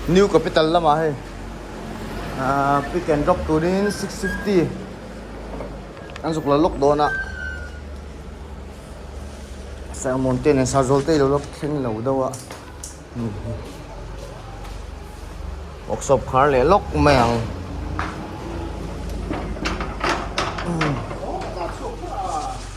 New capital lamah hei aaa pick and drop turin six fifty an zuk la lawk dawn a sermon te nen sar zawlte i lo lawk thleng lo deuh a workshop khar leh lawk mai ang umm.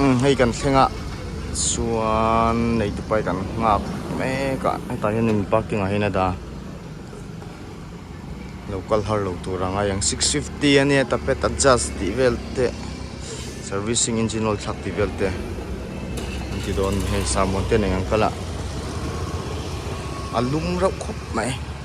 umm hei kan thlengah chuan neiti pai kan nghak mek a hetah hian in parking ah hian a dah a lo kal har lo tur ang a eng six fifty a nia tapet adjust tih vel te servicing engine oil thlak tih vel te an ti dawn a ni hei sahmuan te nen ang kal a a lum reuh khawp mai.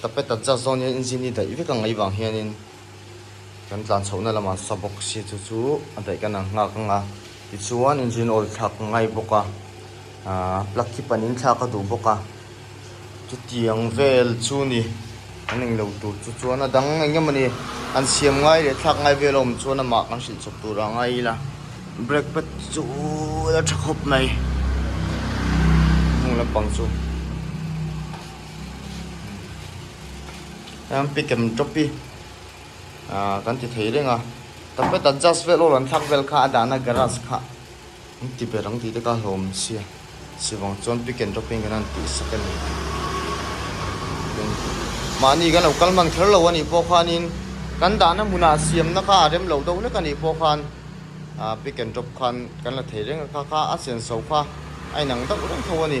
Tape ta Jaz zawng hian engine hi daih vek a ngei vang hianin kan tlan chhohna lamah sa box hi chu chu a daih kan ang nghak ang a. Tichuan engine oil thlak ka ngai bawk a, aah plug hi panin thlak ka duh bawk a. Chutiang vel chu ni kan eng lo tur chu chuan a dang eng emaw ni an siam ngai leh thlak ngai vel awm chuan amah kan hrilh chawp tur ang a i la. Brake pad chu chu a tha khawp mai. Hnung lampang chu. em pick em drop pi a kan ti thei reng a ta pe ta just vel aw an thak vel kha a dahna garage kha an ti ber ang ti te ka hlawm sia sivang chuan pick em drop in kan han ti sak a ni mahni kan lo kal man kher lo a nih pawh khan in kan dahna hmunah siam na kha a rem lo deuh hlek a nih pawh khan a pick em drop khan kan la thei reng a kha kha a senso kha a inang deuh reng tho a ni.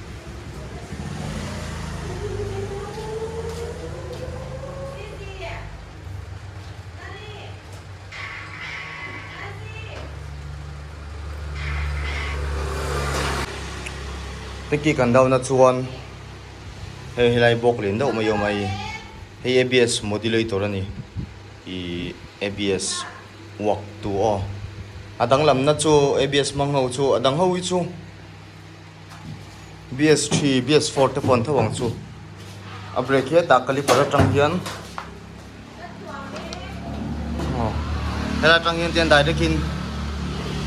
Teki kan dau na chuan he helai bawk len deuh mai awm ai hei abs modulator ani ih abs uak tu aw a danglam na chu abs hmang ho chu a dang ho hi chu. bs three bs four te pawh an tho ang chu a brake hi hetah caliper atang hian aw heta tang hian tian direct in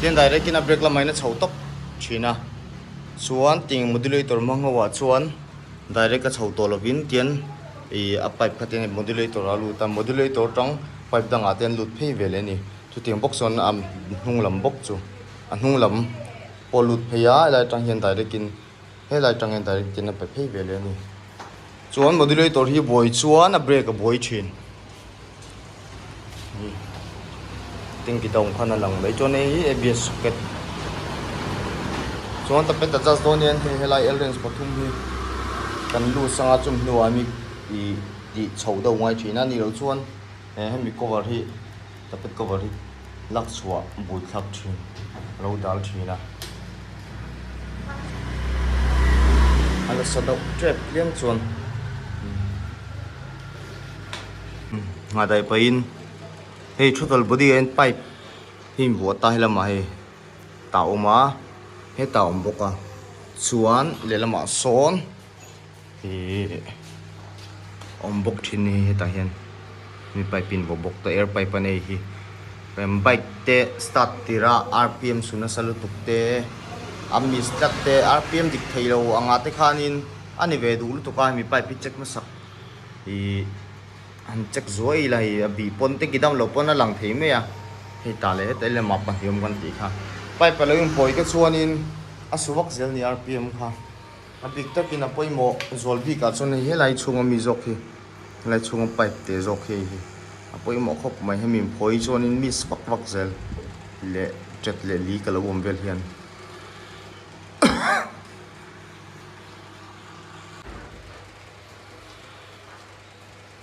tian direct in a brake lamah in a chho tawp thin a chuan tiang in modulator hmang ho ah chuan direct a chho tawh lovin tian ih a pipe kha tian modulator ah a lut a modulator tang pipe dangah te an lut phei ve leh a ni chutiang bawk chuan a hnung lam bawk chu a hnung lam-- Pawh lut phei a, helai atang hian direct in, helai atang hian direct in a pe phei ve leh a ni. Chuan modulator hi buai chuan a brake a buai thin. Tanky down khan a lang mai. Chuan hei hi ABS socket. Chuan ta pet adjust dawn hian hei helai L range pathum hi kan loose anga chum hnuah a mi ih tih chhoh deuh ngai thin a, ni loh chuan. He hemi cover hi tapet cover hi lak chhuah bui thlak thin alo dal thin a a nasa deuh tep tliang chuan ngahdai pahin hei total body ain pipe hi in vuah ta helamah hei ta awm a heta awm bawk a chuan lehlamah sawn. Hi awm bawk thin hi hetah hian mi pipe in vaw bawk ta air pipe a nei hi em bike te start tirah rpm suh nasa lutuk te a miss tlat te rpm dik thei lo anga te khanin a ni ve duh lutuk a hemi pipe hi check hmasa ih han check zuai ila hei a bih pawn te kidam lo pawn a lang thei mai a hei tah leh heta ila mah pahniawm kan tih kha pipe a lo inpawite chuanin a su vak zel a ni rpm kha. A bik takin a pawimawh zual bikah chuan hei he lai chhunga mi zawk hi, he lai chhunga pipe te zawk hi hi a pawimawh khawp mai. Hemi in phawi chuanin miss vak vak zel leh tet leh li ka lo awm vel hi a ni.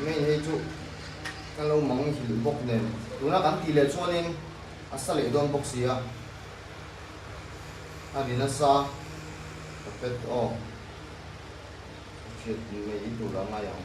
Ngei hei chu ka lo mang hilh bawk nen. Tuna kan tih leh chuanin a sa leh dawn bawk si a. A ri nasa ka pet aw. Ka hriat mai tur a ngai ang.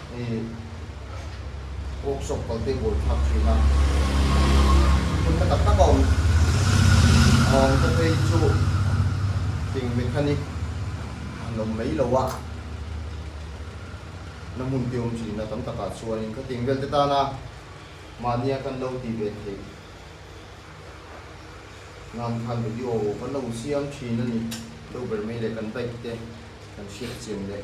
I workshop kalte bul phak thin a, hun na tak tak a awm a awm te phei chu thing mechanic an awm mai lo a, na hmun te awm thin a tam tak ah chuan in khatiang vel te tana mahnia kan lo ti ve thei nan khan video kan lo siam thin a ni, lo ber mai leh kan bike te kan hriat chian leh.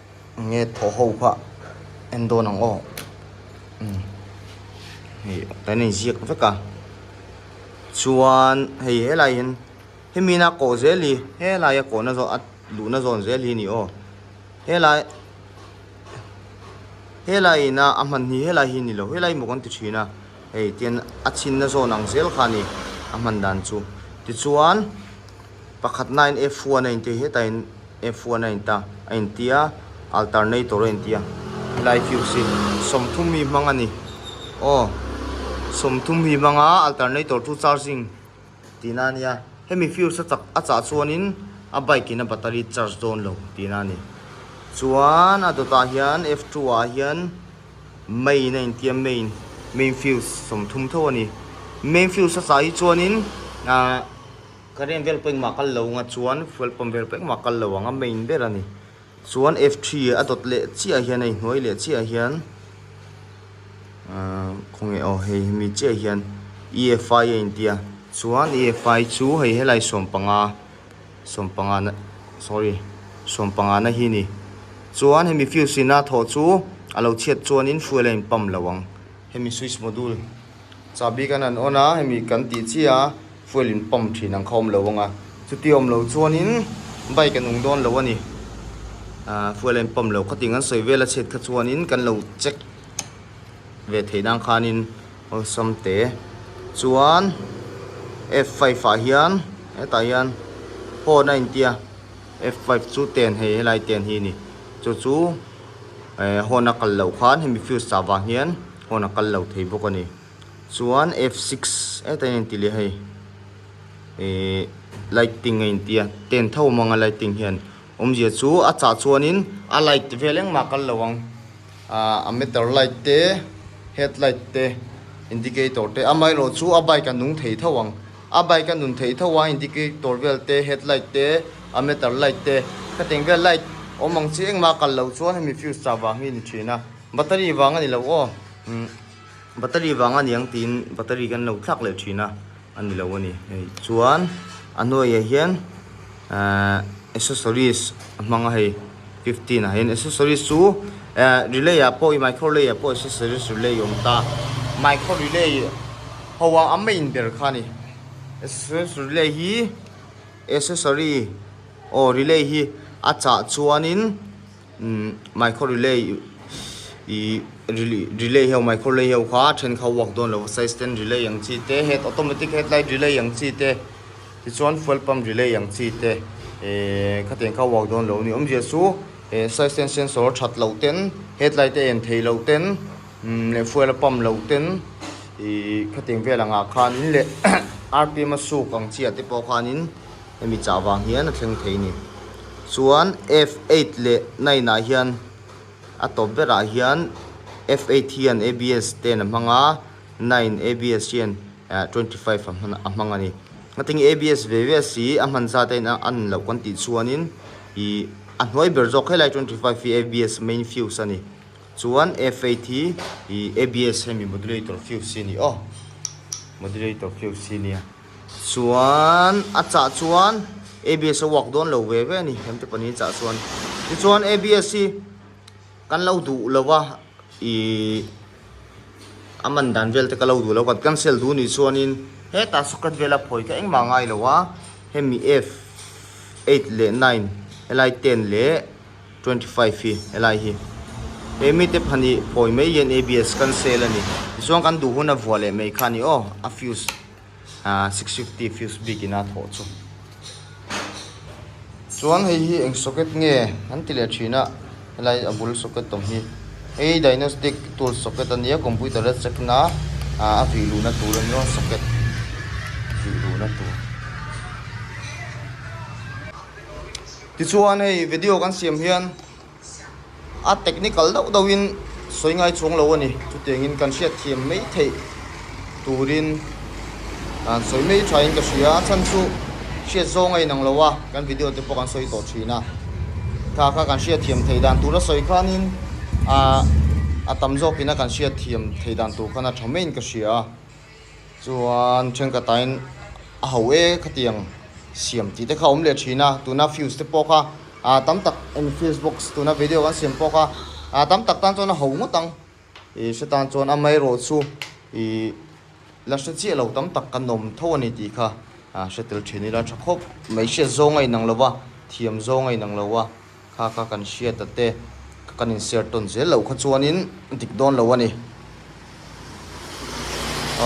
Nge thaw ho phah en dawn ang aw umm hei kan inziak vek a chuan hei helai hian he mina kawh zel hi helaia kawhna zawh a luhna zawn zel hi ni aw helai helai ina a hman hi helai hi ni lo helai maw kan ti thin a hei tian a chhinna zawn ang zel kha a ni a hman dan chu tichuan. Pakhat nain F one a intia hetahin F one a inta a intia alternator a intia helai fuse hi sawmthum mi hmang a ni aw sawmthum mi hmanga alternator chu charging tihna a nia hemi fuse a chak a chah chuanin a bike in a battery charge dawn lo tihna a ni chuan a dawtah hian F two ah hian main a intia main main fuse sawmthum tho a ni main fuse a chah hi chuanin ahh. Ka rem vel pawh engmah kal lo ang a chuan fuel pump vel pawh engmah kal lo ang a main ber a ni chuan f three a dawt leh chiah hian a inhnuai leh chiah hian ahh khawnge aw hei hemi chiah hian e f five a intia chuan e f five chu hei helai sawm panga sawm panga na sorry sawm panga na hi a ni chuan hemi fuse ina thawh chu a lo chhiat chuan in fuel a in pump lo ang. Hemi switch module chahbik an an on a, hemi kan tih chiah a fuel in pump thin ang kha awm lo ang a, chuti awm lo chuanin bike a nung dawn lo a ni, ahh fuel a in pump lo khatin kan sawi vel a chhiat kha chuanin kan lo check ve theih nan khanin awlsam te chuan f five ah hian hetah hian phone a intia f five chu ten hei helai ten hi a ni chu chu. eh hawn a kal loh khan hemi fuse chah vang hian hawn a kal lo thei bawk a ni chuan f six eh tlai a inti leh a hei eh lighting a inti a ten tho mang a lighting hian awmzia chu a chah chuanin a light vel engmah a kal lo ang ah a meter light te headlight te indicator te amaherawhchu a bike a nung thei tho ang. A bike a nun theih tho a, indicator vel te, headlight te, a meter light te. Khateng vel light awm ang chi engmah a kal lo chuan hemi fuse chah vang hi a ni thin a. Battery vang a ni lo aw, umm battery vang a niang tiin battery kan lo thlak leh thin a, a ni lo a ni. Chuan a hnuaiah hian. Accessories a hmang a hei fifteen ah hian accessories chu relay ah pawh i micro relay ah pawh accessories relay a awm ta micro relay ho a a main ber kha a ni accessories relay hi accessory aw relay hi a chah chuan in. Micro relay relay ho micro relay ho kha then kha uak dawn lo size ten relay ang chi te het automatic het light relay ang chi te ti chuan fuel pump relay ang chi te ehh kha ten kha uak dawn lo ni awm zia chu ehh size ten sensor that loh ten het light a en thei loh ten umm leh fuel a pump loh ten ihh kha teng vel ang ah khan in leh rpm a suk ang chi ah te pawh khan in-- Hemi chah vang hian a thleng thei ni. Chuan F eight leh nine ah hian a top berah hian F eight hian abs ten a hmang a, nine abs hian twenty five a hman a hmang a ni. Ngatin abs ve ve a si a hman zat aiin a ni loh kan tih chuanin ih a hnuai ber zawk helai twenty five hi abs main fuse a ni. Chuan F eight hi ih abs hemi modulator fuse hi a ni aw, modulator fuse hi a ni a. Chuan a chah chuan abs a uak dawn lo ve ve a ni, hemte pahnih hi chah chuan. Tichuan abs hi kan lo duh lo a, ih a man dan vel te ka lo duh lo kan cancel duh nih chuanin hetah socket vel a phawi kha engmah a ngai lo a, hemi F eight leh nine helai ten leh twenty five hi helai hi he mite pahnih phawi mai hian abs kan sale a ni. Tichuan kan duh hun a vuah leh mai kha a ni aw a fuse. six fifty fuse bik ina thawh chu chuan hei hi eng socket nge an ti leh thin a helai a bul socket awm hi hei diagnostic tools socket a nia computer a check na ah a vih luhna tur a ni a socket vih luhna tur tichuan hei video kan siam hian. A technical deuh deuh in sawi ngai chhung lo a ni. Chutiang in kan hriat thiam mai theih tur in a'n sawi mai tha in ka hria. A chhan chu hriat zawng a inang lo a, kan video te pawh kan sawi tawh thin a. Tha kha kan hriat thiam thei dan tur a sawi khan in a tam zawk in a kan hriat thiam thei dan tur khan a tha mai in ka hria a. Chuan thenkatahin a ho e kha ti ang, siam tih te kha awm leh thin a, tuna fuse te pawh kha aa tam tak eng fuse box tuna video kan siam pawh kha aa tam tak tan chuan a ho ngawt ang, ih hre tan chuan amaherawh chu ih la hre chiah lo tam tak kan awm tho a ni tih kha aa hre tel thin ila tha khawp, hmeichhia zawnga inang lova, thiam zawnga inang lova. Kha kha kan hriat ta te ka kan in share tawn zel lo kha chuan in dik dawn lo a ni.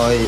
Aii.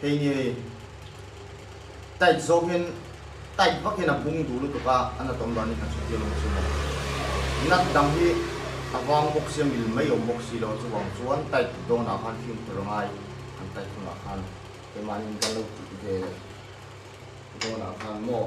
Kei nge hei? Tight zawkin, tight vakin a bung duh lutuk a, a nat awm dan hi hnathawh hi a awm chhung a. Nat dang hi a vang bawk si a, mil mai awm bawk si lo chuvang chuan tight duh dawn ah khan fimkhur a ngai. An tight hun ah khan keimanin kan lo tih ve dawn ah khan maw?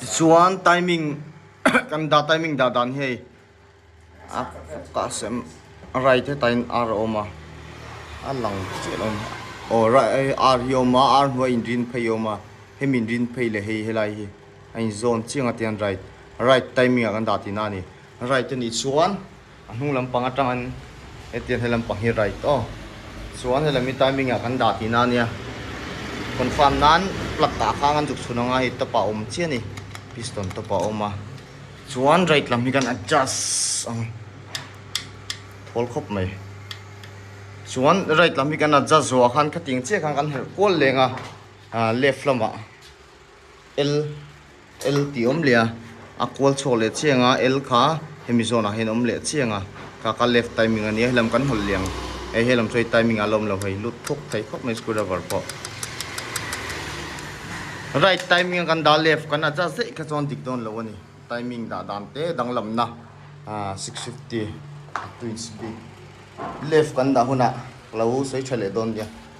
Tichuan timing kan dah timing dah dan hei a kah sem right heta in ar a awm a a lang chiah lo nia aw right ar hi a awm a ar hnuai in rin phei a awm a hemi min rin phei leh hei helai hi a inzawn chiang atian right right timing ah kan dah tihna a ni right a nih chuan. A hnung lampang atang an hetiang he lampang hi right aw chuan hela mi timing ah kan dah tih na nia confirm nan plug dah khang an zuk chhun anga hei top ah awm chiah ani piston top ah awm a chuan right lam hi kan adjust ang thawl khawp mai chuan right lam hi kan adjust zawh ah khan khatiang chiah khan kan herh kual leng a left lamah L L tih awm leh a, a kual chhuak leh chiang a, L kha hemi zone ah hian awm leh chiang a, kha ka left timing ania, helam kan hawl liang e, he lam chu hei timing ah la awm lo hei, lut thuk thei khawp mai screwdriver pawh. Right timing a kan dah a, left kan adjust zeih kha chuan dik dawn lo a ni, timing dah dan te danglamna ah six fifty twin speed left kan dah hunah ka lo sawi tha leh dawn nia.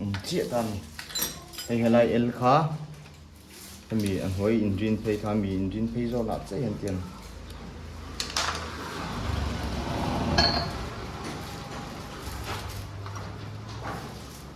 Awm chiah ta a ni. Hei helai el kha hemi a hnuai in rin phei kha mi in rin phei zawk lah chiah hian ti a ni.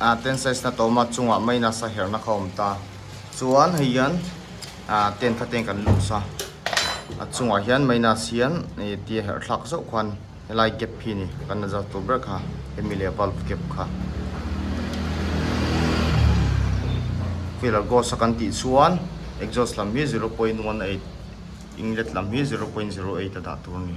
ah ten size na tawm a chungah mai nasa herhna kha awm ta chuan hei hian ah ten kha ten kan lus a a chungah hian mai nas hian ih ti a herh thlak zauh khan helai gap hi ni kan la zar tur ber kha hemi leh valve gap kha filler gauge a kan tih chuan exhaust lam hi zero point one eight inlet lam hi zero point zero eight a dah tur a ni.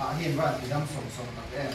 Ah hian ran ti dang sawm sawm tak em.